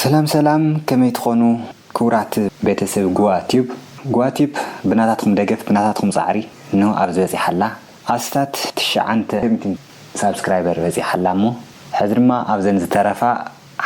ሰላም ሰላም ከመይ ትኾኑ ክቡራት ቤተሰብ ጉዋ ቲዩብ ጉዋ ቲዩብ ብናታትኩም ደገፍ ብናታትኩም ጻዕሪ እንሆ ኣብዚ በጺሓ ኣላ ኣስታት ትሽዓንተ ሳብስክራይበር በጺሓ ኣላ እሞ ሕዚ ድማ ኣብዘን ዝተረፋ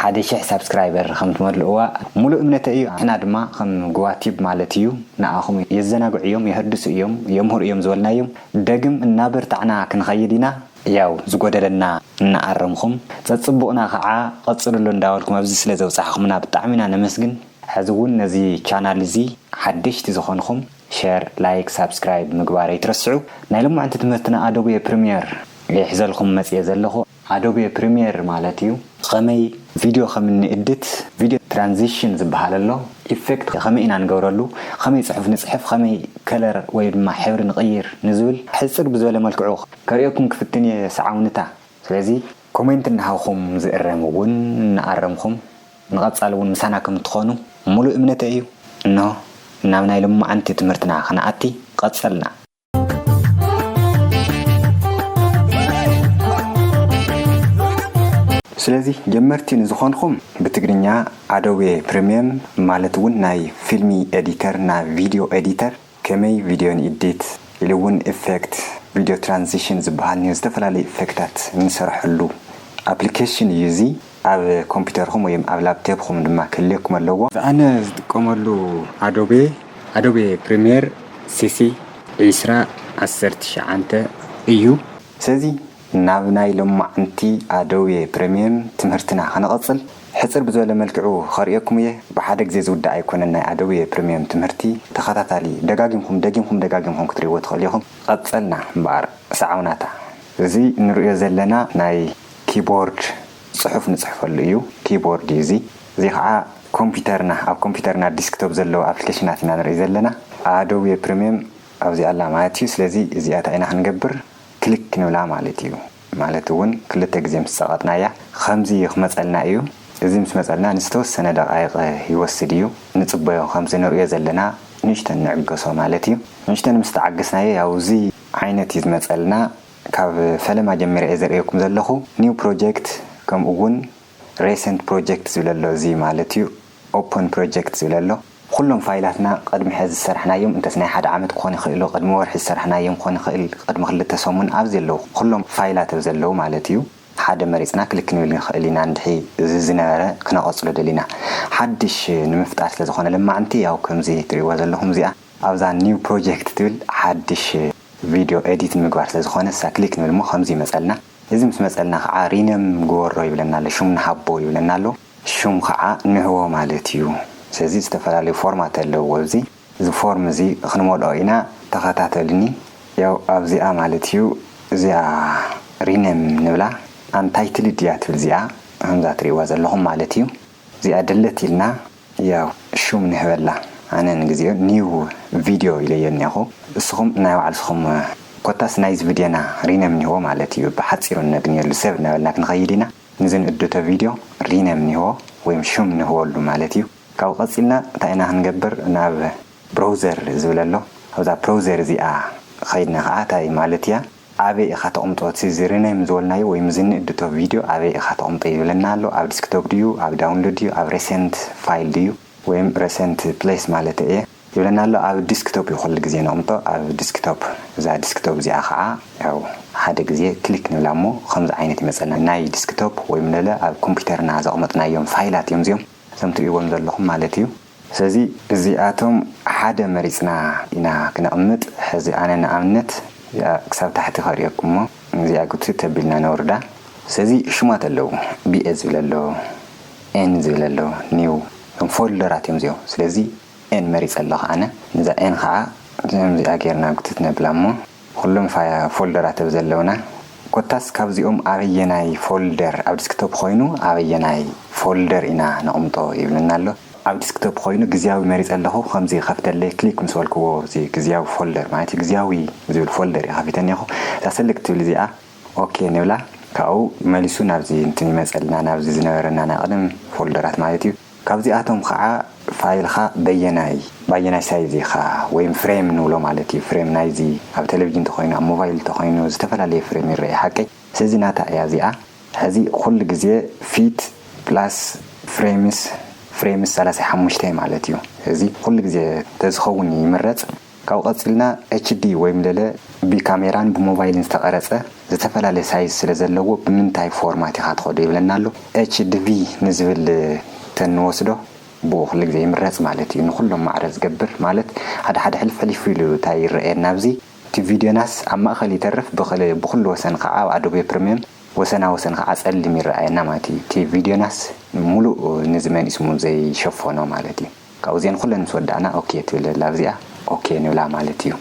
ሓደ ሽሕ ሳብስክራይበር ከም ትመልእዋ ሙሉእ እምነተይ እዩ ንሕና ድማ ከም ጉዋ ቲዩብ ማለት እዩ ንዓኹም የዘናግዑ እዮም የሀድሱ እዮም የምህሩ እዮም ዝበልናዮም ደግም እናበርታዕና ክንኸይድ ኢና ያው ዝጎደለና እናኣረምኹም ጸጽቡቅና ኸዓ ቀጽልሉ እንዳበልኩም ኣብዚ ስለ ዘብጻሕኹምና ብጣዕሚ ኢና ነመስግን። ሕዚ እውን ነዚ ቻናል እዚ ሓደሽቲ ዝኾንኹም ሸር ላይክ ሳብስክራይብ ምግባር ኣይትረስዑ ናይ ሎማዕንቲ ትምህርትና ኣዶቤ ፕሪምየር ሒዘልኹም መጽየ ዘለኹ። ኣዶቤ ፕሪምየር ማለት እዩ። ኸመይ ቪድዮ ኸም እንእድት፣ ቪድዮ ትራንዚሽን ዝብሃል ኣሎ፣ ኢፌክት ኸመይ ኢና ንገብረሉ፣ ኸመይ ፅሑፍ ንፅሕፍ፣ ኸመይ ከለር ወይ ድማ ሕብሪ ንቕይር ንዝብል ሕፅር ብዝበለ መልክዑ ከርእየኩም ክፍትን እየ ሰዓውንታ ስለዚ ኮሜንት እናሃብኹም ዝእረም እውን እናኣረምኹም ንቐፃሊ እውን ምሳና ከም እትኾኑ ሙሉእ እምነተይ እዩ። እንሆ ናብ ናይ ሎማዓንቲ ትምህርትና ኽንኣቲ ቐፀልና። ስለዚ ጀመርቲ ንዝኾንኹም ብትግርኛ ኣዶቤ ፕሪምየም ማለት እውን ናይ ፊልሚ ኤዲተር ን ቪድዮ ኤዲተር ከመይ ቪድዮ ንኢዲት ኢሉ እውን ኢፌክት ቪድዮ ትራንዚሽን ዝበሃል ዝተፈላለዩ ኢፌክታት እንሰርሐሉ ኣፕሊኬሽን እዩ እዚ። ኣብ ኮምፒተርኹም ወይም ኣብ ላፕቴፕኹም ድማ ክህልየኩም ኣለዎ። እዚ ኣነ ዝጥቀመሉ ኣዶቤ፣ ኣዶቤ ፕሪሚየር ሲሲ ዕስራ ዓሰርተ ትሽዓተ እዩ። ስለዚ ናብ ናይ ሎማዓንቲ ኣዶቤ ፕሪሚየም ትምህርትና ክንቕጽል ሕጽር ብዝበለ መልክዑ ከርእየኩም እየ። ብሓደ ግዜ ዝውዳእ ኣይኮነን ናይ ኣዶቤ ፕሪሚየም ትምህርቲ ተኸታታሊ ደጋጊምኩም ደጊምኩም ደጋጊምኩም ክትርእይዎ ትኽእሉ ኢኹም። ቐጸልና እምበኣር ሰዓውናታ። እዚ ንርእዮ ዘለና ናይ ኪቦርድ ጽሑፍ ንጽሕፈሉ እዩ፣ ኪቦርድ እዩ እዚ። እዚ ኸኣ ኮምፒተርና፣ ኣብ ኮምፒተርና ዲስክቶፕ ዘለዉ ኣፕሊኬሽናት ኢና ንርኢ ዘለና። ኣዶቤ ፕሪምየም ኣብዚኣ ኣላ ማለት እዩ። ስለዚ እዚኣ እንታይ ኢና ክንገብር፣ ክሊክ ክንብላ ማለት እዩ። ማለት እውን ክልተ ግዜ ምስ ጸቐጥናያ ኸምዚ ክመጸልና እዩ። እዚ ምስ መጸልና ንዝተወሰነ ደቓይቕ ይወስድ እዩ። ንጽበዮ፣ ኸምዚ ንርእዮ ዘለና ንእሽተን ንዕገሶ ማለት እዩ። ንእሽተን ምስ ተዓገስናዮ፣ ያው እዚ ዓይነት እዩ ዝመጸልና። ካብ ፈለማ ጀሚረ እየ ዘርእየኩም ዘለኹ New Project ከምኡ ውን Recent Project ዝብል ኣሎ እዚ ማለት እዩ Open Project ዝብል ኣሎ ኹሎም ፋይላትና ቕድሚ ሐዚ ዝሰራሕናዮም እንተስ ናይ ሓደ ዓመት ክኾን ይኽእሎ ቕድሚ ወርሒ ዝሰራሕናዮም ክኾን ይኽእል ቕድሚ ክልተ ሰሙን ኣብዚ ኣለዉ ኹሎም ፋይላት ኣብ ዘለዉ ማለት እዩ ሓደ መሪፅና ክሊክ ክንብል ንኽእል ኢና እንድሕሪ እዚ ዝነበረ ክነቐፅሎ ደሊና ሓድሽ ንምፍጣር ስለዝኾነ ለማዕንቲ ያው ከምዚ ትሪእዋ ዘለኹም እዚኣ ኣብዛ New Project ትብል ሓድሽ ቪድዮ ኤዲት ንምግባር ስለ ዝኾነ ንሳ ክሊክ ንብል እሞ ከምዚ ይመጸልና እዚ ምስ መጸልና ክዓ ሪነም ግበሮ ይብለና ኣሎ ሹም ንሃቦ ይብለና ኣሎ ሹም ክዓ ንህቦ ማለት እዩ ስለዚ ዝተፈላለዩ ፎርማት ኣለውዎ እዚ እዚ ፎርም እዚ ክንመልኦ ኢና ተኸታተሉኒ ያው ኣብዚኣ ማለት እዩ እዚኣ ሪነም ንብላ ኣንታይትልድ እያ ትብል እዚኣ ከምዛ ትሪእዋ ዘለኹም ማለት እዩ እዚኣ ደለት ኢልና ያው ሹም ንህበላ ኣነ ንግዜኡ new video ኢለዮ እኔኹ እስኹም ናይ ባዕልስኹም ኮታስ ናይዚ ቭድዮና ሪነም ንህቦ ማለት እዩ ብሓጺሩ እነግንየሉ ሰብ እናበልና ክንኸይድ ኢና ንዚ ንእዶቶ ቪድዮ ሪነም ንህቦ ወይም ሹም ንህበሉ ማለት እዩ ካብኡ ቀጺልና እንታይ ኢና ክንገብር ናብ ብሮውዘር ዝብል ኣሎ ኣብዛ ፕሮውዘር እዚኣ ኸይድና ኸኣ እንታይ ማለት እያ ኣበይ ኢኻ ተቅምጦ እቲ ዝርነም ዝበልናዮ ወይ ምዝንእድቶ ቪድዮ ኣበይ ኢኻ ተቅምጦ ይብለና ኣሎ ኣብ ድስክቶፕ ድዩ ኣብ ዳውንሎድ ድዩ ኣብ ረሰንት ፋይል ድዩ ወይም ረሰንት ፕለስ ማለተይ እየ ይብለና ኣሎ ኣብ ድስክቶፕ እዩ ኩሉ ግዜ ነቅምጦ ኣብ ድስክቶፕ እዛ ድስክቶፕ እዚኣ ካዓ ያው ሓደ ግዜ ክሊክ ንብላ እሞ ኸምዚ ዓይነት ይመፀልና ናይ ድስክቶፕ ወይም ለለ ኣብ ኮምፒተርና ዘቅመጥናዮም ፋይላት እዮም እዚኦም እዞም ትሪእዎም ዘለኹም ማለት እዩ። ስለዚ እዚኣቶም ሓደ መሪጽና ኢና ክነቕምጥ፣ ሕዚ ኣነ ንኣብነት እዚኣ ክሳብ ታሕቲ ከርእየኩም እሞ እዚኣ ጉትት ኣቢልና ነውርዳ። ስለዚ ሽማት ኣለዉ፣ BA ዝብል ኣሎ፣ N ዝብል ኣሎ፣ New እቶም ፎልደራት እዮም እዚኦም። ስለዚ N መሪጸ ኣለኹ ኣነ፣ ነዛ N ከኣ ከምዚኣ ጌርና ጉትት ነብላ እሞ ኹሎም ፎልደራት እብ ዘለውና ኮታስ ካብዚኦም ኣበየናይ ፎልደር ኣብ ድስክቶፕ ኾይኑ ኣበየናይ ፎልደር ኢና ነቕምጦ ይብለና ኣሎ። ኣብ ድስክቶፕ ኾይኑ ግዝያዊ መሪፀ ኣለኹ ከምዚ ይኸፍተለይ ክሊክ ምስ በልክዎ እዚ ግዝያዊ ፎልደር ማለት ግዝያዊ ዝብል ፎልደር እዩ ከፊተ እኒሀኹ እዛ ሰልክት ትብል እዚኣ ኦኬ ንብላ ካብኡ መሊሱ ናብዚ እንትን ይመፀልና ናብዚ ዝነበረና ናይ ቐደም ፎልደራት ማለት እዩ። ካብዚኣቶም ኸዓ ፋይልኻ በየናይ ብኣየናይ ሳይዝ ኢኻ ወይም ፍሬም ንብሎ ማለት እዩ ፍሬም ናይዚ ኣብ ቴሌቪጅን ተኾይኑ ኣብ ሞቫይል ተኾይኑ ዝተፈላለየ ፍሬም ይረኤ ሓቀይ ስለዚ ናታ እያ እዚኣ ሕዚ ኹሉ ግዜ ፊት ፕላስ ፍሬምስ ፍሬምስ ሰላሳ ሓሙሽተ ማለት እዩ እዚ ኹሉ ግዜ ተዝኸውን ይምረፅ። ካብኡ ቀጺልና HD ወይም ለለ ብካሜራን ብሞባይልን ዝተቀረጸ ዝተፈላለየ ሳይዝ ስለ ዘለዎ ብምንታይ ፎርማት ኢኻ ትኸዶ ይብለና ኣሎ። HDV ንዝብል ተንወስዶ ብኡ ኩሉ ግዜ ይምረጽ ማለት እዩ ንኹሎም ማዕረ ዝገብር ማለት ሓደ ሓደ ሕልፍ ሕሊፍ ኢሉ ታይ ይረኣየና ኣብዚ እቲ ቪድዮናስ ኣብ ማእኸል ይተርፍ ብክል ብኹሉ ወሰን ኻዓ ኣብ ኣዶቤ ፕርምየም ወሰና ወሰን ኻዓ ጸሊም ይረኣየና ማለት እዩ እቲ ቪድዮናስ ሙሉእ ንዚ መንእስሙ ዘይሸፈኖ ማለት እዩ። ካብኡ እዚኤን ኩለን ምስ ወዳእና ኦኬ ትብል ዘላ ኣብዚኣ ኦኬ ንብላ ማለት እዩ።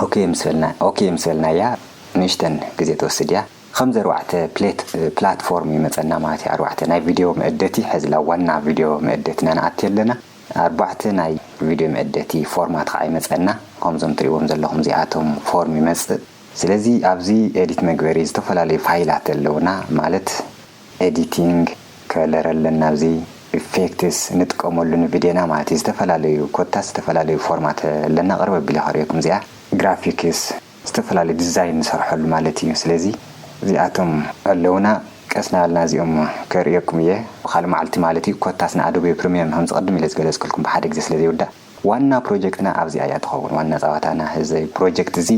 ኦኬ ምስ በልና ኦኬ ምስ በልናያ ንእሽተን ግዜ ትወስድ እያ ኸምዚ ኣርባዕተ ፕሌት ፕላትፎርም ይመጸና ማለት እዩ ኣርባዕተ ናይ ቪድዮ መእደቲ ሐዚ ላብ ዋና ቪድዮ መእደቲ እና ንኣቲ ኣለና ኣርባዕተ ናይ ቪድዮ መእደቲ ፎርማት ኸዓ ይመጸና ኸምዞም ትሪእዎም ዘለኹም እዚኣቶም ፎርም ይመጽእ ስለዚ ኣብዚ ኤዲት መግበሪ ዝተፈላለዩ ፋይላት ኣለውና ማለት ኤዲቲንግ ከለር ኣለና ኣብዚ ኢፌክትስ ንጥቀመሉ ንቪድዮና ማለት እዩ ዝተፈላለዩ ኮታስ ዝተፈላለዩ ፎርማት ኣለና ቅርብ ኣቢለ ከርእየኩም እዚኣ ግራፊክስ ዝተፈላለዩ ዲዛይን ንሰርሐሉ ማለት እዩ ስለዚ እዚኣቶም ኣለውና ቀስ እናበልና እዚኦም ከርእየኩም እየ ብካልእ መዓልቲ ማለት እዩ ኮታስ ንኣዶቤ ፕሪምየም ከምዚ ቅድም ኢለ ዝገለፅክልኩም ብሓደ ግዜ ስለ ዘይውዳእ ዋና ፕሮጀክትና ኣብዚኣ እያ ትኸውን ዋና ጸዋታና እዚ ፕሮጀክት እዚ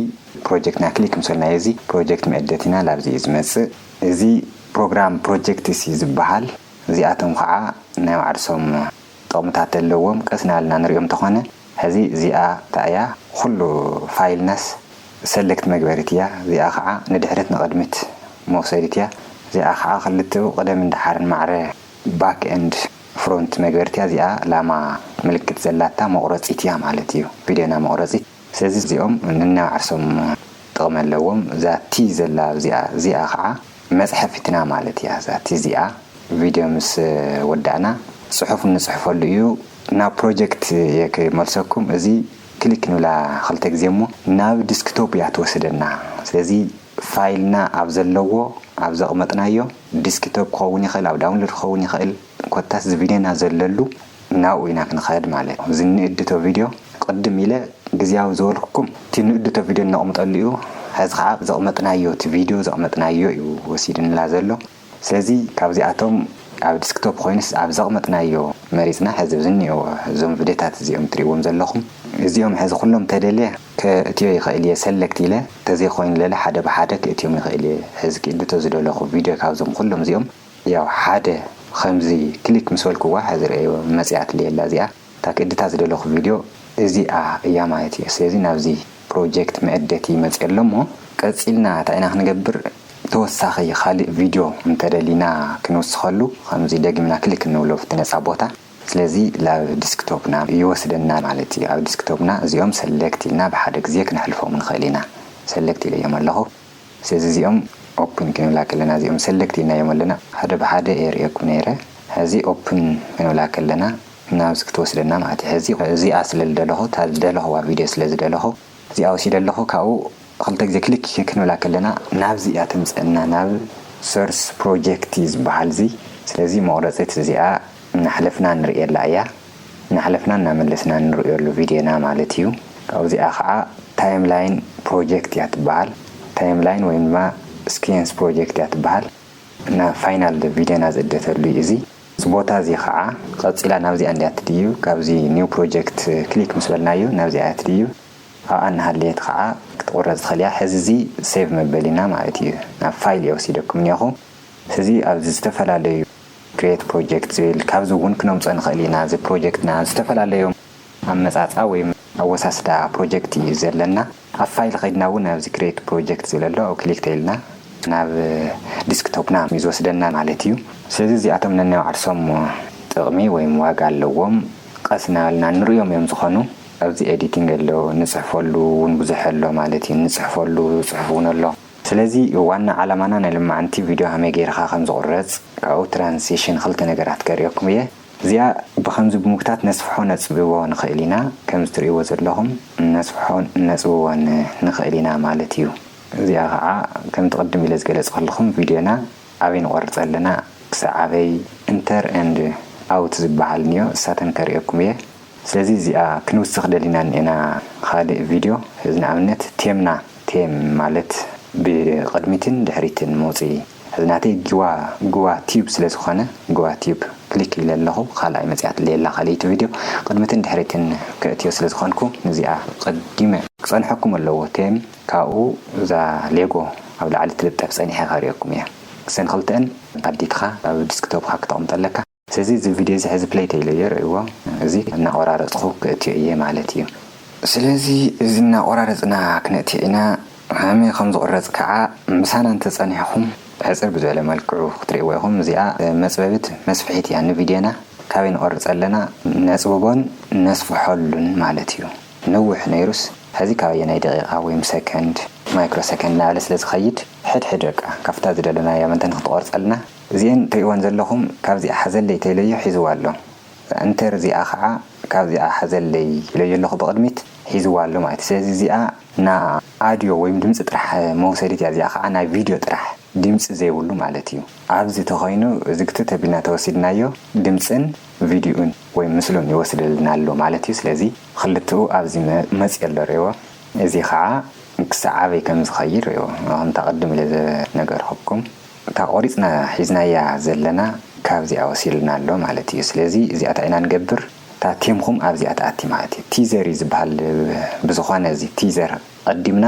ፕሮጀክትና ክሊክ ምስ በልናዮ እዚ ፕሮጀክት መእደቲና ላብዚ እዩ ዝመጽእ እዚ ፕሮግራም ፕሮጀክትስ እዩ ዝበሃል እዚኣቶም ከኣ ናይ ባዕርሶም ጥቕምታት ኣለዎም ቀስ ናበልና ንሪኦም እንተኾነ ሕዚ እዚኣ እንታይ እያ ኹሉ ፋይልናስ ሰለክት መግበሪት እያ እዚኣ ከኣ ንድሕሪት ንቕድሚት መውሰዲት እያ እዚኣ ከኣ ክልቲኡ ቅደምን ደሓርን ማዕረ ባክ ኤንድ ፍሮንት መግበርቲያ እዚኣ ላማ ምልክት ዘላታ መቑረጺት እያ ማለት እዩ ቪድዮና መቑረጺት ስለዚ እዚኦም ነናብ ዓርሶም ጥቕሚ ኣለዎም እዛ ቲ ዘላ ኣብዚኣ እዚኣ ኻዓ መጽሐፊትና ማለት እያ እዛ ቲ እዚኣ ቪድዮ ምስ ወዳእና ጽሑፍ እንጽሕፈሉ እዩ ናብ ፕሮጀክት እየ ክመልሰኩም እዚ ክሊክ ንብላ ኽልተ ግዜ እሞ ናብ ድስክቶፕ እያ ትወስደና ስለዚ ፋይልና ኣብ ዘለዎ ኣብ ዘቕመጥናዮ ዲስኪቶፕ ክኸውን ይኽእል ኣብ ዳውንሎድ ክኸውን ይኽእል ኮታስ ዝቪድዮና ዘለሉ ናብኡ ኢና ክንኸድ ማለት እዩ። እዚ ንእድቶ ቪድዮ ቅድም ኢለ ግዝያዊ ዝበልኩኩም እቲ ንእድቶ ቪድዮ እነቕምጠሉ እዩ። ሐዚ ኸዓ ኣብ ዘቕመጥናዮ እቲ ቪድዮ ዘቕመጥናዮ እዩ ወሲድንላ ዘሎ። ስለዚ ካብዚኣቶም ኣብ ዲስክቶፕ ኮይኑስ ኣብ ዘቕመጥናዮ መሪጽና ሕዚ ዝኒኦው እዞም ቭድዮታት እዚኦም ትሪእዎም ዘለኹም እዚኦም ሕዚ ኩሎም ተደልየ ከእትዮ ይኽእል እየ ሰለክት ኢለ ተዘይኮይኑ ለለ ሓደ ብሓደ ክእትዮም ይኽእል እየ ሕዚ ክእልቶ ዝደለኹ ቪድዮ ካብዞም ኩሎም እዚኦም ያው ሓደ ኸምዚ ክሊክ ምስ በልኩዋ ሕዚ ርኣይዎ መጺኣትለይ ኣላ እዚኣ እታ ክእድታ ዝደለኹ ቪድዮ እዚኣ እያ ማለት እየ። ስለዚ ናብዚ ፕሮጀክት መእደቲ መፅየ ኣሎ እሞ ቀፂልና እንታይ ኢና ክንገብር ተወሳኺ ኻሊእ ቪድዮ እንተደሊና ክንውስኸሉ ኸምዚ ደጊምና ክሊክ እንብሎ ኣብቲ ነፃ ቦታ ስለዚ ላብ ዲስክቶፕና ይወስደና ማለት እዩ። ኣብ ዲስክቶፕና እዚኦም ሰሌክት ኢልና ብሓደ ግዜ ክነሕልፎም ንኽእል ኢና። ሰሌክት ኢለዮም ኣለኹ። ስለዚ እዚኦም ኦፕን ክንብላ ከለና እዚኦም ሰለክት ኢልናዮም ኣለና ሓደ ብሓደ የርእየኩም ነይረ ሐዚ ኦፕን ክንብላ ከለና ናብዚ ክትወስደና ማለት እዩ ሐዚ እዚኣ ስለ ዝደለኹ እታ ዝደለኽዋ ቪድዮ ስለ ዝደለኹ እዚኣ ወሲደ ኣለኹ ካብኡ ኽልተ ግዜ ክሊክ ክንብላ ከለና ናብዚ እያ ተምፀእና ናብ ሶርስ ፕሮጀክት እዩ ዝበሃል እዚ ስለዚ መቑረፂት እዚኣ እናሕለፍና ንርእየላ እያ። እናሕለፍና እናመለስና እንርእዮሉ ቪድዮና ማለት እዩ። ካብዚኣ ከኣ ታይም ላይን ፕሮጀክት እያ ትበሃል። ታይም ላይን ወይም ድማ ስኪየንስ ፕሮጀክት እያ ትበሃል። ናብ ፋይናል ቪድዮና ዝእደተሉ እዩ እዚ። እዚ ቦታ እዚ ከኣ ቀጺላ ናብዚኣ እንድያ እትድይብ። ካብዚ ኒው ፕሮጀክት ክሊክ ምስ በልናዮ ናብዚኣ እያ ትድይብ። ኣብኣ እናሃለየት ከኣ ክትቑረጽ ትኽእል እያ። ሕዚ እዚ ሴቭ መበሊና ማለት እዩ። ናብ ፋይል እየ ወሲደኩም እኒኦኹ። ሕዚ ኣብዚ ዝተፈላለዩ። Create Project ዝብል ካብዚ እውን ክነምፆ ንኽእል ኢና። እዚ ፕሮጀክትና ዝተፈላለዩ ኣመፃፅኣ ወይ ኣወሳስዳ ፕሮጀክት እዩ ዘለና። ኣብ ፋይል ከይድና እውን ኣብዚ Create Project ዝብል ኣሎ ኣብኡ ክሊክ ተይልና ናብ ዲስክቶፕና እዩ ዝወስደና ማለት እዩ። ስለዚ እዚኣቶም ነናይ ባዕልሶም ጥቕሚ ወይ ዋጋ ኣለዎም። ቐስ እናበልና ንርእዮም እዮም ዝኾኑ። ኣብዚ Editing ኣሎ፣ ንፅሕፈሉ እውን ብዙሕ ኣሎ ማለት እዩ። ንፅሕፈሉ ፅሑፍ እውን ኣሎ። ስለዚ ዋና ዓላማና ናይ ልማዓንቲ ቪድዮ ሃመይ ገይርኻ ከም ዝቑረጽ ካብኡ ትራንሲሽን ክልተ ነገራት ከርእየኩም እየ እዚኣ ብኸምዚ ብምጉታት ነስፍሖ ነጽብቦ ንኽእል ኢና ከምዚ ትርእይዎ ዘለኹም ነስፍሖ ነጽብቦን ንኽእል ኢና ማለት እዩ እዚኣ ኸዓ ከምቲ ቅድም ኢለ ዝገለጽክልኹም ቪድዮና ኣበይ ንቖርጽ ኣለና ክሳዕ ኣበይ ኢንተር ኤንድ ኣውት ዝበሃል እንዮ ንሳተን ከርእየኩም እየ። ስለዚ እዚኣ ክንውስኽ ደሊና እኒኤና ኻሊእ ቪድዮ ሕዚ ንኣብነት ቴምና ቴም ማለት ብቅድሚትን ድሕሪትን መውፅኢ ሕዚ ናተይ ጊዋ ግዋ ቲዩብ ስለ ዝኾነ ግዋ ቲዩብ ክሊክ ኢለ ኣለኹ ኻልኣይ መፂኣትለይ ኣላ ኻሊኢቲ ቪድዮ ቅድምትን ድሕሪትን ከእትዮ ስለ ዝኾንኩ ንዚኣ ቐዲመ ክፀንሐኩም ኣለዎ ቴም ካብኡ እዛ ሌጎ ኣብ ላዕሊ ትልጠፍ ፀኒሐ ከርእየኩም እየ ክሰን ኽልተኣን ኣዲትኻ ኣብ ድስክቶፕኻ ክተቅምጠለካ። ሰዚ እዚ ቪድዮ እዚ ሕዚ ፕለይ ተኢለዮ ርኣይዎ እዚ እናቆራረጽኩ ክእትዮ ኢየ ማለት ኢዩ። ስለዚ እዚ እናቆራረጽና ክነእትዮ ኢና ሃመይ ከም ዝቅረጽ ከኣ ምሳና እንተ ጸኒሕኩም ሕጽር ብዝበለ መልክዑ ክትርእይዎ ኢኹም እዚኣ መጽበቢት መስፍሒት ኢያ ንቪድዮና ካበይ ንቆርጽ ኣለና ነጽብቦን ነስፍሖሉን ማለት ኢዩ ነውሕ ነይሩስ ሕዚ ካብ ኣየናይ ደቂቃ ወይም ሰከንድ ማይክሮ ሰከንድ ንላዕሊ ስለ ዝኸይድ ሕድሕድ በቃ ካብታ ዝደለናያ መተን ክትቆርጸልና እዚኤን ትሪእወን ዘለኹም ካብዚኣ ሓዘለይ ተኢለዮ ሒዝዋ ኣሎ እንተር እዚኣ ኻዓ ካብዚኣ ሓዘለይ ኢለዮ ኣለኹ ብቅድሚት ሒዝዋ ኣሎ ማለት እዩ ስለዚ እዚኣ ና ኣድዮ ወይም ድምፂ ጥራሕ መውሰዲት እያ እዚኣ ኻዓ ናይ ቪድዮ ጥራሕ ድምፂ ዘይብሉ ማለት እዩ ኣብዚ ተኾይኑ እዚ ግትት ኣቢልና ተወሲድናዮ ድምፅን ቪድዩኡን ወይም ምስሉን ይወስደልና ኣሎ ማለት እዩ ስለዚ ኽልትኡ ኣብዚ መፂኡ ኣሎ ሪእዎ እዚ ኻዓ ክሳዕ ኣበይ ከምዝኸይድ ሪእዎ ኸምቲ ኣቅድም ኢለ ዝነገርኹኩም። እታ ቆሪጽና ሒዝናያ ዘለና ካብዚኣ ወሲሉና ኣሎ ማለት እዩ ስለዚ እዚኣ ታይ ኢና ንገብር እታ ቴምኩም ኣብዚኣ ትኣቲ ማለት እዩ ቲዘር እዩ ዝብሃል ብዝኮነ እዚ ቲዘር ቀዲምና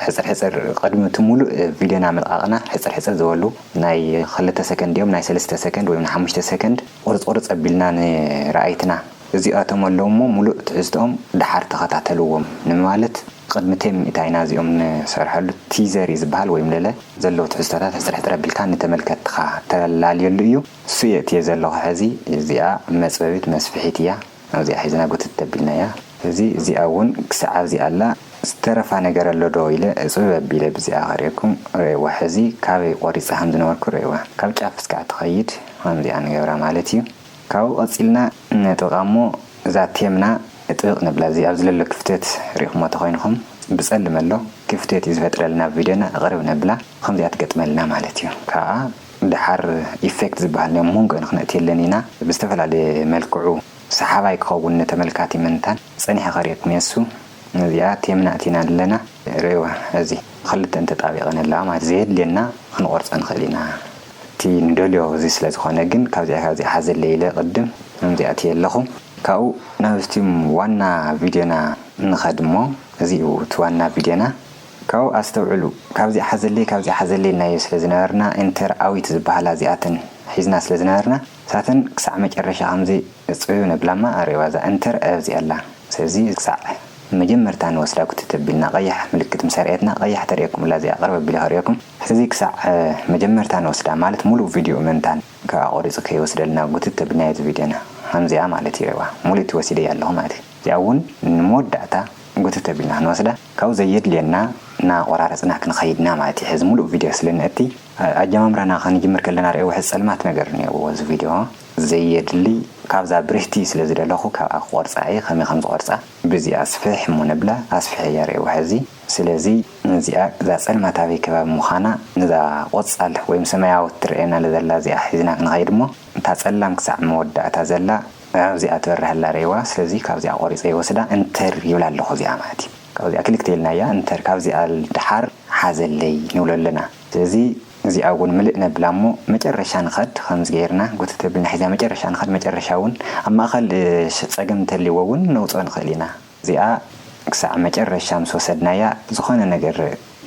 ሕጽር ሕጽር ቅድሚ እቲ ሙሉእ ቪድዮና ምልቃቅና ሕጽር ሕጽር ዝበሉ ናይ ክልተ ሰከንድ ድዮም ናይ ሰለስተ ሰከንድ ወይም ናይ ሓሙሽተ ሰከንድ ቁርጽ ቁርጽ ኣቢልና ንረኣይትና እዚኣቶም ኣለዉ እሞ ሙሉእ ትሕዝትኦም ደሓር ተኸታተልዎም ንማለት ቕድሚ ቴም ሚእታይ ናዚኦም ንሰርሐሉ ቲዘር እዩ ዝብሃል ወይም ለለ ዘለዉ ትሕዝቶታት ሕጽርሕጽር ኣቢልካ ንተመልከትትኻ ተላልየሉ እዩ እሱ የእትየ ዘለኹ ሐዚ እዚኣ መጽበቢት መስፍሒት እያ ኣብዚኣ ሒዝና ጉትት ኣቢልናያ ሐዚ እዚኣ እውን ክሳዕ ኣብዚ ኣላ ዝተረፋ ነገር ኣሎ ዶ ኢለ እጽብብ ኣቢለ ብዚኣ ክርእየኩም ርእይዋ ሐዚ ካበይ ቆሪጸ ከምዝነበርኩ ርእይዋ ካብ ጫፍ እስካዕ ትኸይድ ኸምዚኣ ንገብራ ማለት እዩ። ካብኡ ቀጺልና ነጥብቃ እሞ እዛ ቴምና እጥብቅ ንብላ እዚ ኣብዚ ለሎ ክፍተት ሪኢኩሞ ተኮይንኩም ብጸልም ኣሎ ክፍተት እዩ ዝፈጥረልና ኣብ ቪድዮና እቅርብ ነብላ ብከምዚኣ ትገጥመልና ማለት እዩ ካኣ ደሓር ኢፌክት ዝብሃል ናይ ሞንጎ ክንእትየለን ኢና ብዝተፈላለየ መልክዑ ሰሓባይ ክከውን ንተመልካቲ ምንታን ጸኒሐ ከሪኤኩም እየ እሱ ነዚኣ ቴምና እቲና ኣለና ሪእዋ እዚ ክልተን ተጣቢቀን ኣለዋ ማለት ዘየድልየና ክንቆርጾ ንክእል ኢና። እቲ ንደልዮ እዚ ስለ ዝኾነ ግን ካብዚኣ ካብዚኣ ሓዘለይ ኢለ ቅድም ነዚ ኣእትየ ኣለኹ። ካብኡ ናብቲ ዋና ቪድዮና ንኸድ እሞ እዚ እዩ እቲ ዋና ቪድዮና። ካብኡ ኣስተውዕሉ ካብዚኣ ሓዘለይ ካብዚኣ ሓዘለይ ኢልናዮ ስለ ዝነበርና ኢንተር ኣዊት ዝበሃላ እዚኣተን ሒዝና ስለ ዝነበርና እሳተን ክሳዕ መጨረሻ ከምዚ እጽብብ ነብላ እማ ኣርእይዋ እዛ ኢንተር ኣብዚኣ ኣላ ስለዚ ክሳዕ መጀመርታ ንወስዳ ኩትት ኣቢልና ቀያሕ ምልክት ምስ ኣርእየትና ቀያሕ ተርእየኩም ኣላ እዚኣ ቅርብ ኣቢለ ከርእየኩም ሕዚ ክሳዕ መጀመርታ ንወስዳ ማለት ሙሉእ ቪድዩኡ ምእንታን ካብ ኣቆሪጹ ከይወስደልና ጉትት ተብልናዮ እዚ ቪድዮና ሀምዚኣ ማለት እዩ ሬዋ ሙሉእቲ ወሲደያ ኣለኹ ማለት እዩ እዚኣ እውን ንመወዳእታ ጉትት ተብልና ክንወስዳ ካብኡ ዘየድልየና ናቆራረጽና ክንኸይድ ኢና ማለት እዩ ሕዚ ሙሉእ ቪድዮ ስለ ንእቲ ኣጀማምራና ክንጅምር ከለና ሬዋ ሕዚ ጸልማት ነገር እኔዎ እዚ ቪድዮ ዘየድሊ ካብዛ ብርህቲ ስለ ዝደለኹ ካብኣ ክቆርጻ እየ ከመይ ከም ዝቆርጻ ብእዚኣ ስፍሕ እሞ ነብላ ኣስፍሐያ ሬዋ ሕዚ ስለዚ ነዚኣ እዛ ጸልማታዊ ከባቢ ምዃና ነዛ ቆጻል ወይም ሰማያዊት ትርኣየናለ ዘላ እዚኣ ሒዝና ክንኸይድ እሞ እታ ጸላም ክሳዕ መወዳእታ ዘላ ኣብዚኣ ትበርህ ኣላ ርኤዋ ስለዚ ካብዚኣ ቆሪጸ ይወስዳ እንተር ይብላ ኣለኹ እዚኣ ማለት እዩ ካብዚኣ ክልተ ኢልናያ እንተር ካብዚኣ ድሓር ሓዘለይ ንብሎ ኣለና ስለዚ እዚኣ እውን ምልእ ነብላ እሞ መጨረሻ ንኸድ ከምዚ ገይርና ጉትት ኣቢልና ሒዝና መጨረሻ ንኸድ መጨረሻ እውን ኣብ ማእኸል ጸገም እንተልይዎ እውን ነውጽኦ ንኽእል ኢና እዚኣ ክሳዕ መጨረሻ ምስ ወሰድናያ ዝኾነ ነገር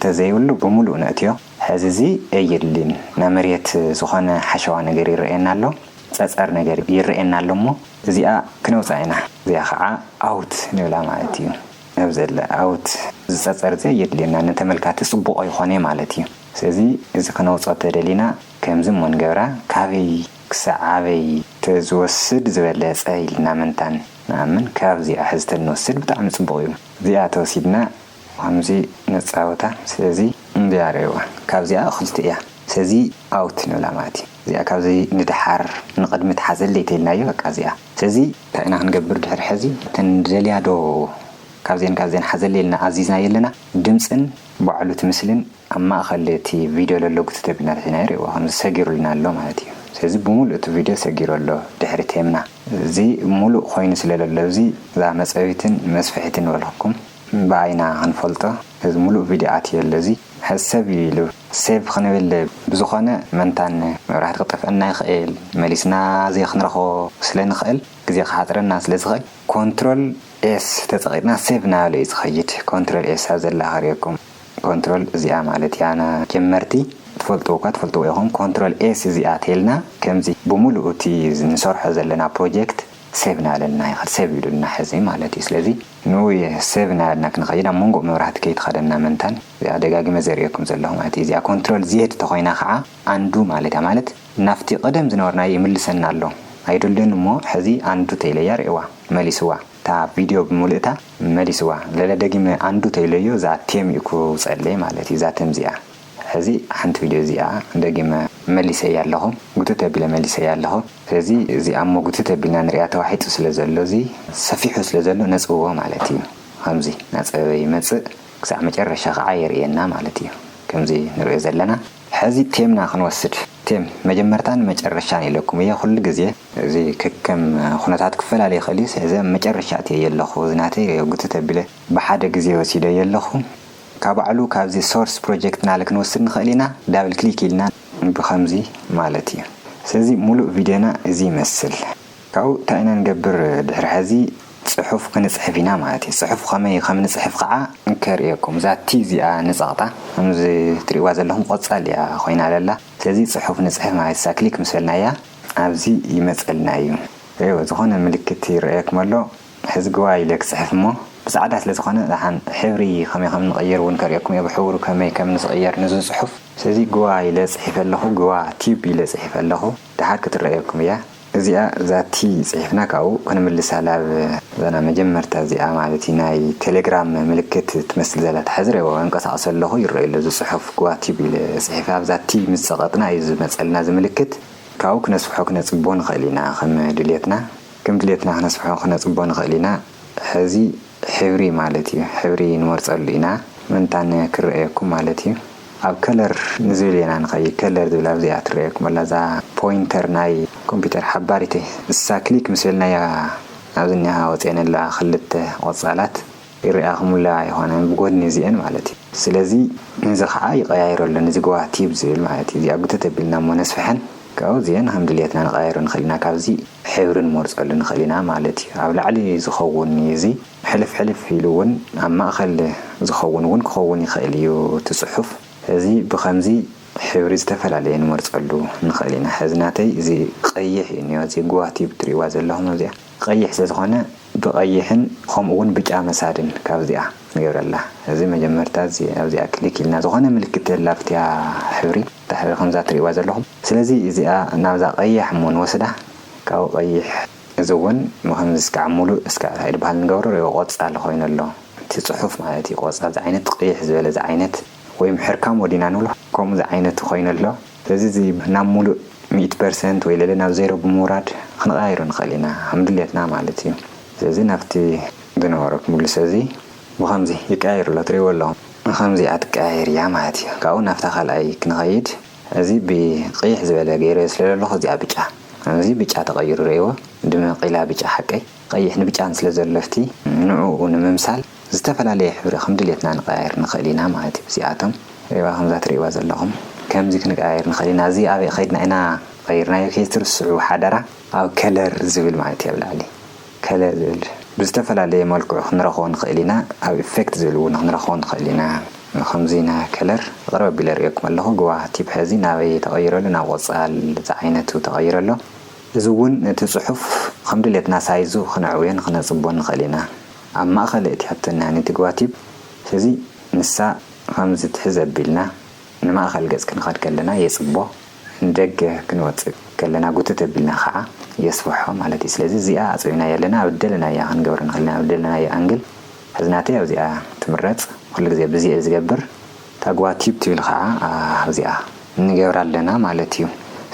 ተዘይብሉ ብምሉኡ ነእትዮ። ሕዚ እዚ እይድሊን ናብ መሬት ዝኾነ ሓሸዋ ነገር ይረኣየና ኣሎ ጸጸር ነገር ይረኣየና ኣሎ እሞ እዚኣ ክነውጻ ኢና እዚኣ ኸዓ ኣውት ንብላ ማለት እዩ ኣብዘለ ኣውት እዚ ጸጸር እዚ እየድልየናን ንተመልካቲ ጽቡቕ ኣይኾኔ ማለት እዩ ስለዚ እዚ ክነውጾ ተደሊና ከምዚ እሞ ንገብራ ካበይ ክሳዕ ኣበይ ተዝወስድ ዝበለጸ ኢልና ምንታን ንኣምን ካብ እዚኣ ሕዝተን ንወስድ ብጣዕሚ ጽቡቅ እዩ እዚኣ ተወሲድና ከምዚ ነጻውታ ስለዚ እንዚኣ ርኣይዋ ካብዚኣ ክልተ እያ ስለዚ ኣውት ንብላ ማለት እዩ እዚኣ ካብዚ ንድሓር ንቅድሚት ሓዘለይ ተኢልናዮ በቃ እዚኣ ስለዚ ታይ ኢና ክንገብር ድሕሪ ሕዚ እተን ንደልያ ዶ ካብዚኤን ካብዚኤን ሓዘለይ ኢልና ኣዚዝናዮ ኣለና ድምጽን ባዕሉ እቲ ምስልን ኣብ ማእከል እቲ ቪድዮ ለሎ ጉተተብናታት ኢና ይርእይዎ ከምዚ ሰጊሩልና ኣሎ ማለት እዩ ስለዚ ብምሉእ እቲ ቪድዮ ሰጊሩ ኣሎ ድሕሪ ቴምና እዚ ምሉእ ኮይኑ ስለ ለሎ እዚ እዛ መጸቢትን መስፍሒትን ንበልኩኩም ብኣይ ኢና ክንፈልጦ ስለዚ ምሉእ ቪድዮ ኣትዩ ኣሎ እዚ ሕዚ ሰብ እዩ ኢሉ ሴቭ ክንብል ብዝኮነ መንታን መብራህቲ ክጠፍኣና ይክእል መሊስና ዘይ ክንረክቦ ስለ ንክእል ግዜ ክሓጽረና ስለ ዝክእል ኮንትሮል ኤስ ተጸቂጥና ሴቭ እናበለ እዩ ዝከይድ ኮንትሮል ኤስ ኣብዘላ ከርእየኩም ኮንትሮል እዚኣ ማለት እያ ን ጀመርቲ ትፈልጥዎ እኳ ትፈልጥዎ ኢኩም ኮንትሮል ኤስ እዚኣ ተልና ከምዚ ብሙሉኡ እቲ ንሰርሖ ዘለና ፕሮጀክት ሴቭ ናበለልና ይከድ ሴቭ ኢሉልና ሐዚ ማለት እዩ ስለዚ ንውይ ሴቭ ናበልና ክንከይድ ኣብ መንጎ መብራህቲ ከይትከደና መንታን እዚኣ ደጋጊመ ዘርእየኩም ዘለኩ ማለት እዩ እዚኣ ኮንትሮል ዜድ ተኮይና ከዓ ኣንዱ ማለት እያ ማለት ናብቲ ቀደም ዝነበርናዮ ይምልሰና ኣሎ ኣይደልዮን እሞ ሐዚ ኣንዱ ተኢለያ ሪእዋ መሊስዋ። እታ ቪድዮ ብምልእታ መሊስዋ ለለ ደጊመ ኣንዱ ተይለዮ እዛ ቴም እዩ ክውጸለይ ማለት እዩ እዛ ተም እዚኣ ሕዚ ሓንቲ ቪድዮ እዚኣ ደጊመ መሊሰያ ኣለኹ ጉትት ኣቢለ መሊሰያ ኣለኹ ስለዚ እዚ ኣሞ ጉትት ኣቢልና ንርኣ ተዋሒጡ ስለ ዘሎ እዚ ሰፊሑ ስለ ዘሎ ነጽብቦ ማለት እዩ ኸምዚ ናጸበበ ይመጽእ ክሳዕ መጨረሻ ኸዓ የርእየና ማለት እዩ ከምዚ ንርእዮ ዘለና ሕዚ ቴምና ክንወስድ ቴም መጀመርታን መጨረሻን ኢለኩም እየ ኩሉ ግዜ እዚ ከከም ኩነታት ክፈላለ ይኽእል እዩ ሰለዚ ኣብ መጨረሻ ኣትየዮ ኣለኹ እዚ ናተይ ሪኦ ግትት ኣቢለ ብሓደ ግዜ ወሲደዮ ኣለኹ ካብ ባዕሉ ካብዚ ሶርስ ፕሮጀክት ናለ ክንወስድ ንኽእል ኢና ዳብል ክሊክ ኢልና ብኸምዚ ማለት እዩ ሰለዚ ሙሉእ ቪድዮና እዚ ይመስል ካብኡ እንታይ ኢና ንገብር ድሕሪ ሐዚ ፅሑፍ ክንፅሕፍ ኢና ማለት እዩ ፅሑፍ ኸመይ ኸም ንፅሕፍ ኸዓ ከርእየኩም እዛ ቲ እዚኣ ንፀቕጣ ኸምዚ ትሪእዋ ዘለኹም ቆፃል እያ ኾይና ለላ ሰለዚ ፅሑፍ ንፅሕፍ ማለት እሳ ክሊክ ምስ በልናያ ኣብዚ ይመጸልና እዩ። እወ ዝኾነ ምልክት ይረኣየኩም ኣሎ ሕዝግዋይ ኢለ ክጽሕፍ እሞ ብጻዕዳ ስለ ዝኾነ ዳሓን ሕብሪ ከመይ ከም ንቕይር ውን ከርእየኩም እየ ብሕቡሩ ከመይ ከም ንስቕየር ንዙ ጽሑፍ ስለዚ ግዋ ኢለ ጽሒፈ ኣለኹ ግዋ ቲዩብ ኢለ ጽሒፈ ኣለኹ ዳሓር ክትረኣየኩም እያ እዚኣ ዛቲ ጽሒፍና ካብኡ ክንምልሳ ላብ ዛና መጀመርታ እዚኣ ማለት እዩ ናይ ቴሌግራም ምልክት ትመስል ዘላ እታ ሕዝር እወ ኣንቀሳቕሶ ኣለኹ ይረኣዩ ኣሎ እዚ ጽሑፍ ግዋ ቲዩብ ኢለ ጽሒፈ ኣብዛቲ ምስ ጸቐጥና እዩ ዝመጸልና እዚ ምልክት ካብኡ ክነስፍሖ ክነጽቦ ንኽእል ኢና ከም ድልየትና ከም ድልየትና ክነስፍሖ ክነጽቦ ንኽእል ኢና ሕዚ ሕብሪ ማለት እዩ ሕብሪ ንመርጸሉ ኢና ምንታን ክረኣየኩም ማለት እዩ ኣብ ከለር ንዝብል ኢና ንኸይድ ከለር ዝብል ኣብዚኣ ትረኣየኩም ኣላ እዛ ፖይንተር ናይ ኮምፒተር ሓባሪተይ ንሳ ክሊክ ምስ በልናያ ኣብዚ እኒሃ ወጺኤን ኣለዋ ክልተ ቆጻላት ይርኣኽሙላ ኣይኾነን ብጎድኒ እዚኤን ማለት እዩ ስለዚ ነዚ ኻዓ ይቀያይሮ ኣሎ ነዚ ጎዋ ቲብ ዝብል ማለት እዩ እዚኣ ጉተት ኣቢልና እሞ ነስፍሐን ካብኡ እዚኤን ኸም ድልየትና ንቀያይሮ ንኽእል ኢና ካብዚ ሕብሪ ንመርፀሉ ንኽእል ኢና ማለት እዩ ኣብ ላዕሊ ዝኸውን እዩ እዚ ሕልፍ ሕልፍ ኢሉ እውን ኣብ ማእኸል ዝኸውን እውን ክኸውን ይኽእል እዩ እቲ ፅሑፍ እዚ ብኸምዚ ሕብሪ ዝተፈላለየ ንመርፀሉ ንኽእል ኢና ሕዚ ናተይ እዚ ቀይሕ እዩ እኒኦ እዚ ጎዋ ቲብ ትሪእዋ ዘለኹም ኣብዚኣ ቀይሕ ስለዝኾነ ብቀይሕን ኸምኡ ውን ብጫ መሳድን ካብዚኣ ንገብረላ እዚ መጀመርታ እዚ ኣብዚኣ ክሊክ ኢልና ዝኾነ ምልክት ዘላፍትያ ሕብሪ እታ ሕብሪ ከምዛ ትሪእዋ ዘለኹም ስለዚ እዚኣ ናብዛ ቀያሕ እሞ ንወስዳ ካብኡ ቀይሕ እዚ ውን ብኸምዚ እስካዕ ሙሉእ እስካዕ እንታይ ድበሃል ንገብሮ ሪእዎ ቆጻል ኾይኑ ኣሎ እቲ ጽሑፍ ማለት እዩ ቆጻል ዝዓይነት ቀይሕ ዝበለ ዝዓይነት ወይ ምሕርካም ወዲና ንብሎ ከምኡ ዝዓይነቱ ኾይኑ ኣሎ። ስለዚ እዚ ናብ ሙሉእ ሚእቲ ፐርሰንት ወይ ልዕሊ ናብ ዜሮ ብምውራድ ኽንቐያይሮ ንኽእል ኢና ከም ድሌትና ማለት እዩ። ስለዚ ናብቲ ዝነበሮ ክምልሶ እዚ ብኸምዚ ይቀያየር ኣሎ ትሪእዎ ኣለኹም። ኸምዚኣ ትቀያየር እያ ማለት እዩ። ካብኡ ናብታ ካልኣይ ክንኸይድ እዚ ብቕይሕ ዝበለ ገይረዮ ስለ ዘለኹ እዚኣ ብጫ እዚ ብጫ ተቐይሩ ሪእዎ ድምቕ ኢላ ብጫ ሓቀይ ቐይሕ ንብጫ ንስለ ዘሎ ኣብቲ ንዕኡ ንምምሳል ዝተፈላለየ ሕብሪ ከም ድሌትና ንቀያይር ንክእል ኢና ማለት እዩ እዚኣቶም። ዒባ ከምዛ ትርእይዋ ዘለኹም ከምዚ ክንቀያይር ንክእል ኢና እዚ ኣበይ ከይድና ኢና ቀይርናዮ ከይትርስዑ ሓደራ። ኣብ ከለር ዝብል ማለት እዩ ኣብ ላዕሊ ከለር ዝብል ብዝተፈላለየ መልክዑ ክንረኽቦ ንክእል ኢና ኣብ ኢፌክት ዝብል እውን ክንረኽቦ ንክእል ኢና ንከምዚ ን ከለር ቅርብ ኣቢለ ኣርእየኩም ኣለኹ ግዋህ ቲፕ ሐዚ ናበይ ተቀይሩ ኣሎ ናብ ቆፃል ዝዓይነቱ ተቀይሩ ኣሎ እዚ እውን እቲ ፅሑፍ ከም ድሌትና ሳይዙ ክነዕብዮን ክነፅብቦን ንክእል ኢና ኣብ ማእኸል እቲያቶና ንቲ ጓቲብ ህዚ ንሳ ኸምዚ ትሕዝ ኣቢልና ንማእኸል ገፅ ክንኸድ ከለና የፅቦ ንደገ ክንወፅእ ከለና ጉትት ኣቢልና ኸዓ የስፍሖ ማለት እዩ ስለዚ እዚኣ ኣፅቢብናያ ኣለና ኣብ እደለናያ ክንገብራ ንኽእል ኢና ኣብ እደለናያ ኣንግል ሕዚ ናተይ ኣብዚኣ ትምረፅ ኹሉ ግዜ ብዚኣ እየ ዝገብር እታ ጓቲብ ትብል ኸዓ ኣብዚኣ። ንገብራ ኣለና ማለት እዩ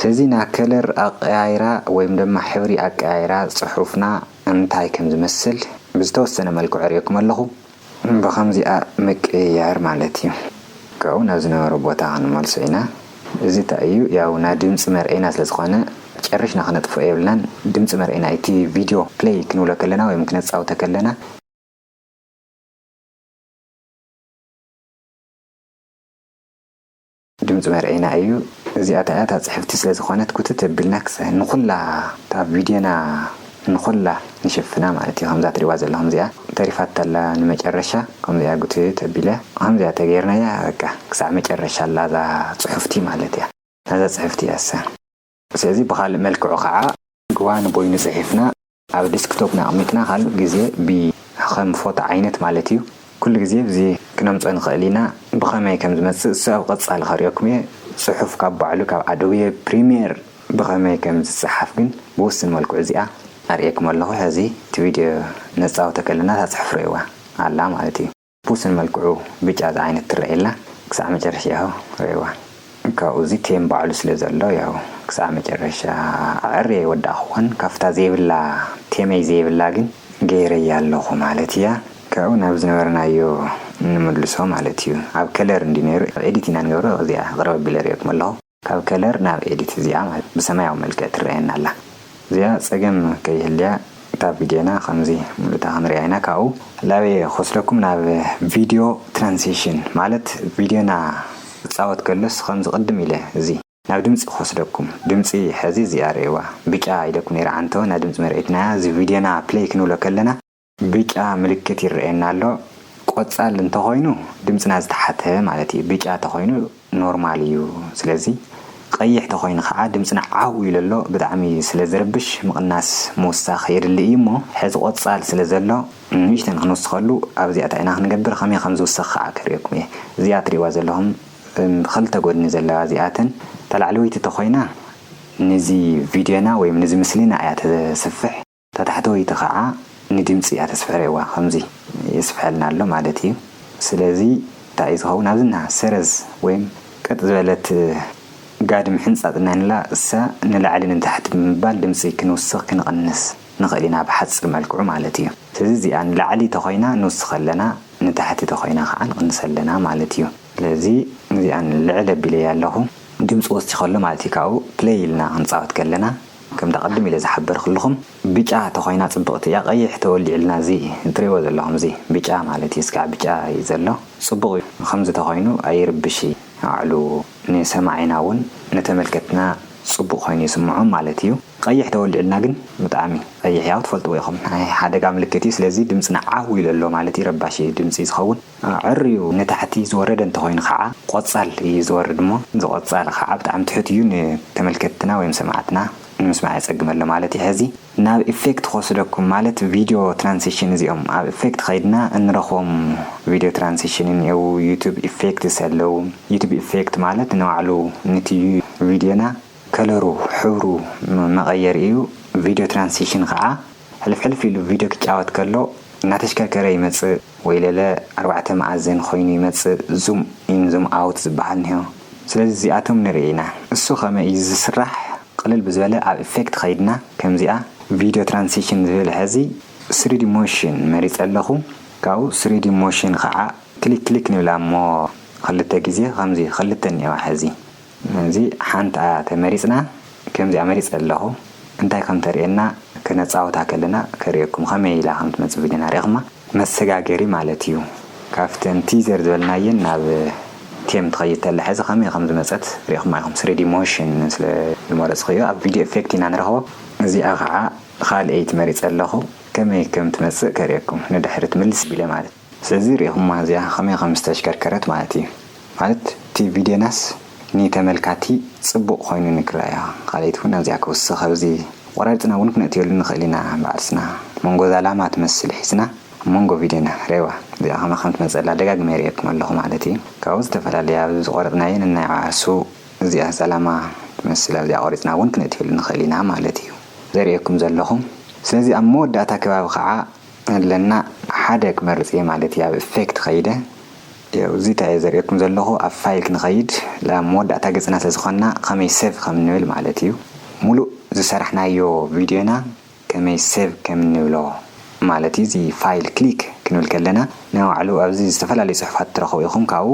ህዚ ናከለር ኣቀያይራ ወይም ደማ ሕብሪ ኣቀያይራ ፅሑፍና። እንታይ ከም ዝመስል ብዝተወሰነ መልክዑ ኣርእየኩም ኣለኹ። ብኸምዚኣ ምቅይያር ማለት እዩ። ካብኡ ናብ ዝነበሮ ቦታ ክንመልሶ ኢና። እዚ እንታይ እዩ ያው ናይ ድምጺ መርኤና ስለ ዝኾነ ጨሪሽና ክነጥፍኦ የብልናን። ድምጺ መርኤና እዩ እቲ ቪድዮ ፕለይ ክንብሎ ከለና ወይም ክነጻውተ ከለና። ድምጺ መርዔና እዩ እዚኣ ታያ እታ ጽሕፍቲ ስለ ዝኮነት ኩትት ኣቢልና ክሳይ ንኩላ እታ ቪድዮና ንኩላ ንሽፍና ማለት እዩ ከምዛ ትሪእዋ ዘለኩም እዚኣ ተሪፋቶ ኣላ ንመጨረሻ ከምዚኣ ጉትት ኣቢለ ከምዚኣ ተገይርናያ በቃ ክሳዕ መጨረሻ ኣላ እዛ ጽሑፍቲ ማለት እያ ናዛ ጽሕፍቲ እያሰ ስለዚ ብኻልእ መልክዑ ኸዓ ግዋ ንቦይኑ ጽሒፍና ኣብ ዲስክቶፕ ኣቕሚጥና ካልእ ግዜ ብ ኸም ፎቶ ዓይነት ማለት እዩ ኩሉ ግዜ ብዚ ክነምጽኦ ንኽእል ኢና ብኸመይ ከም ዝመጽእ እሱ ኣብ ቐጻሊ ከርእየኩም እየ ጽሑፍ ካብ ባዕሉ ካብ ኣዶቤ ፕሪምየር ብኸመይ ከም ዝጸሓፍ ግን ብውስን መልክዑ እዚኣ ኣርእየኩም ኣለኹ ሕዚ እቲ ቪድዮ ነጻውቶ ከለና እታ ጽሑፍ ርእይዋ ኣላ ማለት እዩ። ፑስን መልክዑ ብጫ ዝዓይነት ትረኣየላ ክሳዕ መጨረሻ ያሆ ረኣይዋ ካብኡ እዚ ኬን ባዕሉ ስለ ዘሎ ያሆ ክሳዕ መጨረሻ ኣዐርየ ኣይወዳእክዎን ካብታ ዘይብላ ቴመይ ዘይብላ ግን ገይረያ ኣለኩ ማለት እያ ካብኡ ናብ ዝነበርናዮ ንምልሶ ማለት እዩ ኣብ ከለር እንድዩ ነይሩ ኣብ ኤዲት ኢና ንገብሮ እዚኣ ቅርብ ኣቢለ ኣርእየኩም ኣለኩ። ካብ ከለር ናብ ኤዲት እዚኣ ማለት ብሰማያዊ መልክዕ ትረኣየና ኣላ እዚኣ ጸገም ከይህልያ እታ ቪድዮና ከምዚ ምሉእታ ክንሪኣ ኢና ካብኡ ላበየ ክወስደኩም ናብ ቪድዮ ትራንሲሽን ማለት ቪድዮና ክጻወት ከሎስ ከምዚ ቅድም ኢለ እዚ። ናብ ድምጺ ክወስደኩም ድምጺ ሕዚ እዚኣ ርኣይዋ ብጫ ኢለኩም ነይረ ዓንተቦ ናይ ድምጺ መርኣዪትና እያ እዚ ቪድዮና ፕለይ ክንብሎ ከለና ብጫ ምልክት ይረኣየና ኣሎ ቆጻል እንተኾይኑ ድምጽና ዝተሓተ ማለት እዩ ብጫ ተኾይኑ ኖርማል እዩ ስለዚ ቐይሕ ተኾይኑ ኸኣ ድምጽና ዓው ኢሉ ኣሎ ብጣዕሚ ስለ ዝርብሽ ምቕናስ ምውሳኽ የድሊ እዩ እሞ ሕዚ ቆጻል ስለ ዘሎ ንእሽተን ክንውስኸሉ ኣብዚኣታ ኢና ክንገብር ከመይ ከም ዝውሰኽ ኸኣ ከርእየኩም እየ እዚኣ ትርእይዋ ዘለኹም ብኽልተ ጎድኒ ዘለዋ እዚኣተን እታ ላዕለወይቲ ተኾይና ንዚ ቪድዮና ወይም ንዚ ምስሊና እያ ተስፍሕ እታ ታሕተወይቲ ከኣ ንድምጺ እያ ተስፍሕርዋ ከምዚ የስፍሐልና ኣሎ ማለት እዩ ስለዚ እንታይ እዩ ዝኸውን ኣብዚ እንሃ ሰረዝ ወይም ቀጥ ዝበለት ጋድም ሕንጻጽ እንሀንላ እሳ ንላዕሊ ንታሕቲ ብምባል ድምጺ ክንውስኽ ክንቕንስ ንኽእል ኢና ብሓጺር መልክዑ ማለት እዩ ስለዚ እዚኣ ንላዕሊ ተኾይና ንውስኽ ኣለና ንታሕቲ ተኾይና ከኣ ንቕንስ ኣለና ማለት እዩ ስለዚ እዚኣ ልዕል ኣቢለያ ኣለኹ ድምጺ ወሲኸ ኣሎ ማለት እዩ ካብኡ play ኢልና ክንጻወት ከለና ከምቲ ኣቐድም ኢለ ዝሓበርክልኹም ብጫ ተኾይና ጽብቕቲ እያ ቀይሕ ተወሊዕልና እዚ ትሪእዎ ዘለኹም እዚ ብጫ ማለት እዩ እስካዕ ብጫ እዩ ዘሎ ጽቡቕ እዩ ከምዚ ተኾይኑ ኣይርብሽ እዩ ኣዕሉ ንሰማዒና ውን ንተመልከትና ጽቡቕ ኮይኑ ይስምዖም ማለት እዩ ቀይሕ ተወሊዕልና ግን ብጣዕሚ ቀይሕ ያው ትፈልጥዎ ኢኹም ናይ ሓደጋ ምልክት እዩ ስለዚ ድምጽና ዓው ኢሉ ኣሎ ማለት እዩ ረባሺ ድምጺ ዝኸውን ኣዐርዩ ንታሕቲ ዝወረደ እንተኾይኑ ኻዓ ቆጻል እዩ ዝወርድ እሞ እዚ ቆጻል ኻዓ ብጣዕሚ ትሑት እዩ ንተመልከትትና ወይም ሰማዕትና ንምስማዕ የጸግመሎ ማለት እዩ ሐዚ ናብ ኢፌክት ክወስደኩም ማለት ቪድዮ ትራንሲሽን እዚኦም ኣብ ኢፌክት ኸይድና እንረኽቦም ቪድዮ ትራንሲሽን እኒኤው ዩቱብ ኢፌክትስ ኣለው ዩቱብ ኢፌክት ማለት ንባዕሉ ንቲ ቪድዮና ከለሩ፣ ሕብሩ፣ መቐየሪ እዩ። ቪድዮ ትራንሲሽን ኸዓ ሕልፍ ሕልፍ ኢሉ ቪድዮ ክጫወት ከሎ እናተሽከርከረ ይመፅእ ወይ ለለ ኣርባዕተ መኣዝን ኾይኑ ይመፅእ ዙም ኢን ዙም ኣውት ዝበሃል እኒሆ ስለዚ እዚኣቶም ንርኢ ኢና እሱ ኸመይ እዩ ዝስራሕ ቕልል ብዝበለ ኣብ ኢፌክት ኸይድና ከምዚኣ ቪድዮ ትራንሲሽን ዝብል ሐዚ ስሪዲ ሞሽን መሪፀ ኣለኹ ካብኡ ስሪዲ ሞሽን ኸዓ ክሊክ ክሊክ ንብላ እሞ ኽልተ ግዜ ኸምዚ ኽልተ እኒኦዋ ሐዚ። እዚ ሓንትኣ ተመሪጽና ከምዚኣ መሪጸ ኣለኹ እንታይ ከም ተርእየና ክነጻውታ ከለና ከርእየኩም ከመይ ኢላ ከም ትመጽእ ቪድዮና ሪእኹማ መሰጋገሪ ማለት እዩ ካብተን ቲዘር ዝበልናየን ናብ ቴም ትኸይድ ተላ ሕዚ ከመይ ከም ዝመጸት ሪእኹማ ኢኹም ስሪዲ ሞሽን ስለ ዝመረጽኹዮ ኣብ ቪድዮ ኤፌክት ኢና ንረኽቦ እዚኣ ኸኣ ኻልኤይቲ መሪጸ ኣለኹ ከመይ ከም ትመጽእ ከርእየኩም ንድሕሪት ምልስ ቢለ ማለት። ስለዚ ሪኢኹማ እዚኣ ከመይ ከም ዝተሽከርከረት ማለት እዩ ማለት እቲ ቪድዮናስ ንተመልካቲ ጽቡቕ ኮይኑ ንክረኣያ ካልኣይቲ ውን ኣዚያ ክውስኽ ኣብዚ ቆራሪጽና ውን ክነእትየሉ ንኽእል ኢና ባዕልስና መንጎ እዛ ላማ ትመስል ሒዝና ኣብ መንጎ ቪድዮና ሬዋ እዚኣ ከመይ ከም ትመጸላ ደጋጊመ ይርእየኩም ኣለኹ ማለት እዩ ካብኡ ዝተፈላለየ ኣብዚ ዝቆረጽናዮ ነናይ ዓርሱ እዚኣ እዛ ላማ ትመስል ኣብዚኣ ቆሪጽና ውን ክነእትየሉ ንኽእል ኢና ማለት እዩ ዘርእየኩም ዘለኹ ስለዚ ኣብ መወዳእታ ከባቢ ከኣ ኣለና ሓደ ክመርጽ እየ ማለት እየ ኣብ ኢፌክት ከይደ ያው እዚ እንታይ እየ ዘርእየኩም ዘለኹ ኣብ ፋይል ክንኸይድ ኣብ መወዳእታ ገጽና ስለ ዝኾንና ከመይ ሴቭ ከም እንብል ማለት እዩ ሙሉእ ዝሰራሕናዮ ቪድዮና ከመይ ሴቭ ከም እንብሎ ማለት እዩ እዚ ፋይል ክሊክ ክንብል ከለና ናይ ባዕሉ ኣብዚ ዝተፈላለዩ ጽሑፋት ትረኽቡ ኢኹም ካብኡ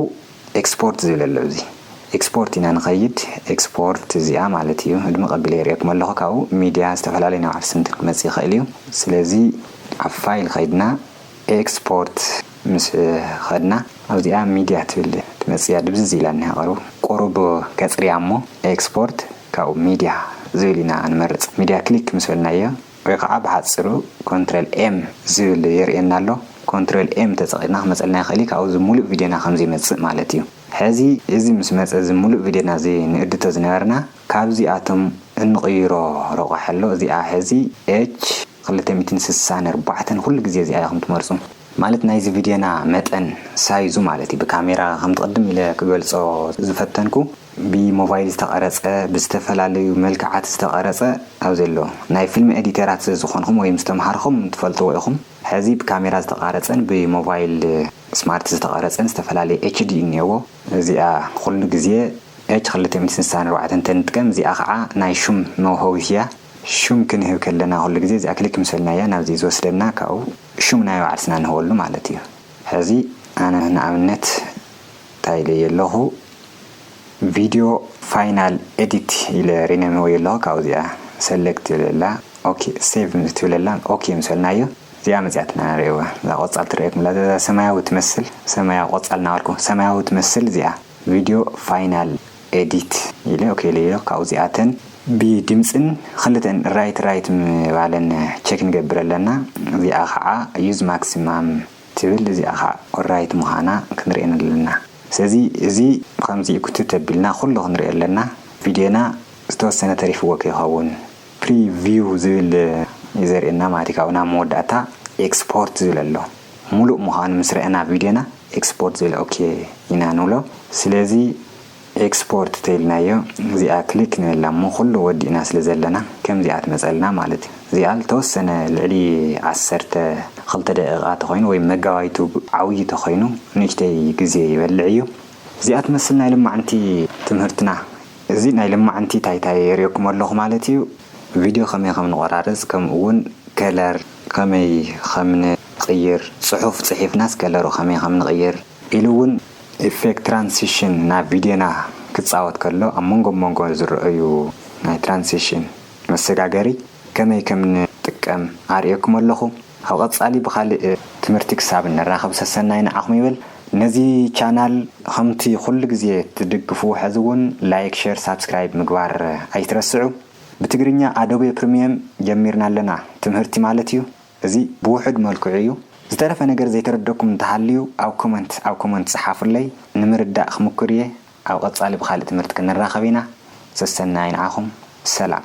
ኤክስፖርት ዝብል ኣሎ ኣብዚ ኤክስፖርት ኢና ንኸይድ ኤክስፖርት እዚኣ ማለት እዩ እድመ ቀቢለ የርእየኩም ኣለኹ ካብኡ ሚድያ ዝተፈላለዩ ናብ ዓርሰ እንትን ክመፅእ ይኽእል እዩ ስለዚ ኣብ ፋይል ኸይድና ኤክስፖርት ምስ ኸድና ኣብዚኣ ሚድያ ትብል ትመፅእ እያ ድብዝዝ ኢላ እኒሃ ቐርቡ ቁሩብ ከፅርያ እሞ ኤክስፖርት ካብኡ ሚድያ ዝብል ኢና ንመርፅ ሚድያ ክሊክ ምስ በልናዮ ወይ ኸዓ ብሓፂሩ ኮንትረል ኤም ዝብል የርእየና ኣሎ። ኮንትረል ኤም ተጠቒምና ክመፀልና ይኽእል እዩ። ካብኡ እዚ ሙሉእ ቪድዮና ከም ዘይመፅእ ማለት እዩ። ሕዚ እዚ ምስ መፀ እዚ ሙሉእ ቪድዮና ዘይንእድቶ ዝነበርና ካብዚ ኣቶም እንቕይሮ ረቋሒ ኣሎ። እዚኣ ሕዚ ኤች ክልተ ሚእትን ስሳን ኣርባዕተን ኩሉ ግዜ እዚኣ ኢኹም ትመርፁ። ማለት ናይዚ ቪድዮና መጠን ሳይዙ ማለት እዩ። ብካሜራ ከምቲ ቅድም ኢለ ክገልፆ ዝፈተንኩ ብሞባይል ዝተቐረጸ፣ ብዝተፈላለዩ መልክዓት ዝተቐረጸ ኣብዚ ኣሎ። ናይ ፊልም ኤዲተራት ስለ ዝኾንኹም ወይም ዝተመሃርኹም ትፈልጥዎ ኢኹም። ሕዚ ብካሜራ ዝተቓረጸን ብሞባይል ስማርት ዝተቐረጸን ዝተፈላለየ HD እዩ እኒኤዎ። እዚኣ ኹሉ ግዜ ኤች ክልተ ሚእቲ ስሳን ኣርባዕተን ተንጥቀም፣ እዚኣ ኸዓ ናይ ሹም መውሀዊት እያ። ሹም ክንህብ ከለና ኹሉ ግዜ እዚኣ ክሊክ ምስ በልና እያ ናብዚ ዝወስደና ካብኡ ሹም ናይ ባዕልትና ንህበሉ ማለት እዩ። ሕዚ ኣነ ንኣብነት እንታይ ኢለዮ ኣለኹ፣ ቪድዮ ፋይናል ኤዲት ኢለ ሪነንወዮ ኣለኹ ካብኡ እዚኣ ሰለክት ትብለላ ኦኬ ሴቭ ምስ ትብለላ ኦኬ ምስ በልናዮ እዚኣ መፅያትና ንሪእዋ እዛ ቆፃል ትረኣየኩም እላ እዛ ሰማያዊ ትመስል ሰማያዊ ቆፃል እናበልኩ ሰማያዊ ትመስል እዚኣ ቪድዮ ፋይናል ኤዲት ኢለ ኦኬ ኢለዮ ኣለኹ ካብኡ እዚኣ እተን ብድምፅን ክልተን ራይት ራይት ምባለን ቼክ ንገብር ኣለና እዚኣ ከዓ ዩዝ ማክሲማም ትብል እዚኣ ከኣ ኦሪራይት ምዃና ክንሪኢ ኣለና ስለዚ እዚ ብከምዚ እዩ ክትት ኣቢልና ኩሉ ክንሪኦ ኣለና ቪድዮና ዝተወሰነ ተሪፍዎ ከይኸውን ፕሪ ቪው ዝብል እዩ ዘርእየና ማለት እዩ ካብኡ ናብ መወዳእታ ኤክስፖርት ዝብል ኣሎ ሙሉእ ምዃኑ ምስ ረኣና ቪድዮና ኤክስፖርት ዝብል ኦኬ ኢና ንብሎ ስለዚ ኤክስፖርት ተይልናዮ እዚኣ ክሊክ ንበላ እሞ ኩሉ ወዲእና ስለ ዘለና ከምዚኣ ትመጸልና ማለት እዩ እዚኣ ልተወሰነ ልዕሊ ዓሰርተ ክልተ ደቂቃ ተኮይኑ ወይ መጋባይቱ ዓውዪ ተኮይኑ ንእሽተይ ግዜ ይበልዕ እዩ እዚኣ ትመስል ናይ ልማዕንቲ ትምህርትና እዚ ናይ ልማዕንቲ ታይታይ የርእየኩም ኣለኩ ማለት እዩ ቪድዮ ከመይ ከም ንቆራርጽ ከምኡ ውን ከለር ከመይ ከም ንቅይር ጽሑፍ ጽሒፍናስ ከለሩ ከመይ ከም ንቅይር ኢሉ ውን ኢፌክት ትራንሲሽን ናብ ቪድዮና ክጻወት ከሎ ኣብ መንጎ መንጎ ዝረኣዩ ናይ ትራንሲሽን መሰጋገሪ ከመይ ከም ንጥቀም ኣርእየኩም ኣለኹ። ኣብ ቐጻሊ ብኻሊእ ትምህርቲ ክሳብ ንራኸብ ሰሰናዩ ንዓኹም ይበል። ነዚ ቻናል ኸምቲ ኹሉ ግዜ ትድግፍዎ ሐዚ ውን ላይክ ሸር ሳብስክራይብ ምግባር ኣይትረስዑ። ብትግርኛ ኣዶቤ ፕርምየም ጀሚርና ኣለና ትምህርቲ ማለት እዩ። እዚ ብውሑድ መልክዑ እዩ ዝተረፈ ነገር ዘይተረደኩም እንተሃልዩ ኣብ ኮመንት ኣብ ኮመንት ጽሓፉለይ ንምርዳእ ክምኩር እየ ኣብ ቐጻሊ ብካልእ ትምህርቲ ክንራኸብ ኢና ሰሰናዩ ንዓኹም ሰላም።